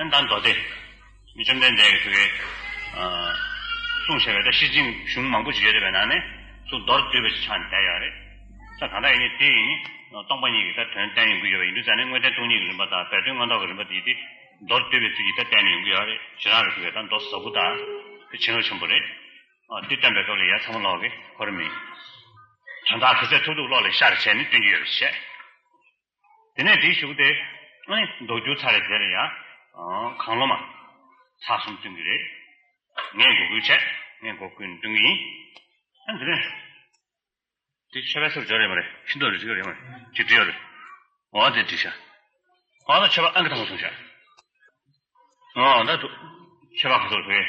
ཨན་ད་མདོ་སྡེ། བཅོམ་ལྡན་འདས་ཀྱིས་དེ་སྐད་གསུངས་བྱས་པས་ད་ཤི་ཅིང་གཞུང་མང་པོ་ཞིག་ཡོད་དེ་བས་ན་ནི་སུ་མདོར་བསྡུས་པ་ཞིག་ཆགས་ནས་བསྡད་ཡོད་རེད། ད་གང་ལྟར་ཡིན་ནི་དེ་ཡིན་ནི་སྟོང་པ་ཉིད་ཀྱི་ད་དོན་གཏན་ཡོང་གི་ཡོད་པ་ཡིན་དུས་ད་ནི་དངོས་བསྟན་སྟོང་ཉིད་ཀྱི་རིམ་པ་དང་བས་དོན་མངོན་རྟོགས་ཀྱི་རིམ་པ་དེ་ཡིན་ཏེ། མདོར་བསྡུས་པའི་ཚུལ་གྱིས་ད་གཏན་ནས་ཡོང་གི་ཡོད་རེད་ཞེ་རང་རེ་ཞུ་བས་ད་མདོ་བཟའ་བུ་དང་དེ་བྱིན་རླབས་ཆེན་པོ་རེད། དེ་སྟོན་པའི་སྐབས་ལ་ཡ་ཚ་མོ་ལོག་གི་གོ་རེ་མིན། དོན་དག་གི་ཚད་ཐུག་ཐུག་ཀློག་ལེགས་ཤག་རེ་བྱས་ནས་སྟོན་གྱི་ཡོད་རེ་བྱས། དེ་ནས་བྲིས་བཞུགས་ཏེ། མདོ་སྒྱུ་རྩལ་རེ་མཛད་པས་ཡང། གང་བློ་མ། ཚ་གསུམ་བསྟུན་གྱི་རེད། ངས་མགོ་སྐུལ་བྱས། ངས་མགོ་སྐུལ་ནས་བསྟུན་གྱི་ཡིན། ཨ་འདི་རེད། འདི་ཆོས་པའི་སོར་བཞག་རེད་མ་རེད། ཤིན་ཏུ་རེ་བྱེད་ཀྱི་རེད་མ་རེད། ཅེས་བྲིས་ཡོད། འོ་དེ་བྲིས་ཤག། གང་ལྟར་ཆོས་པ་ཨང་ཀི་ཐང་པོ་བྱུང་ཤག། འོ་ད། ཆོས་པ་ག་ཚོད་རེད་བོད་ཡིག།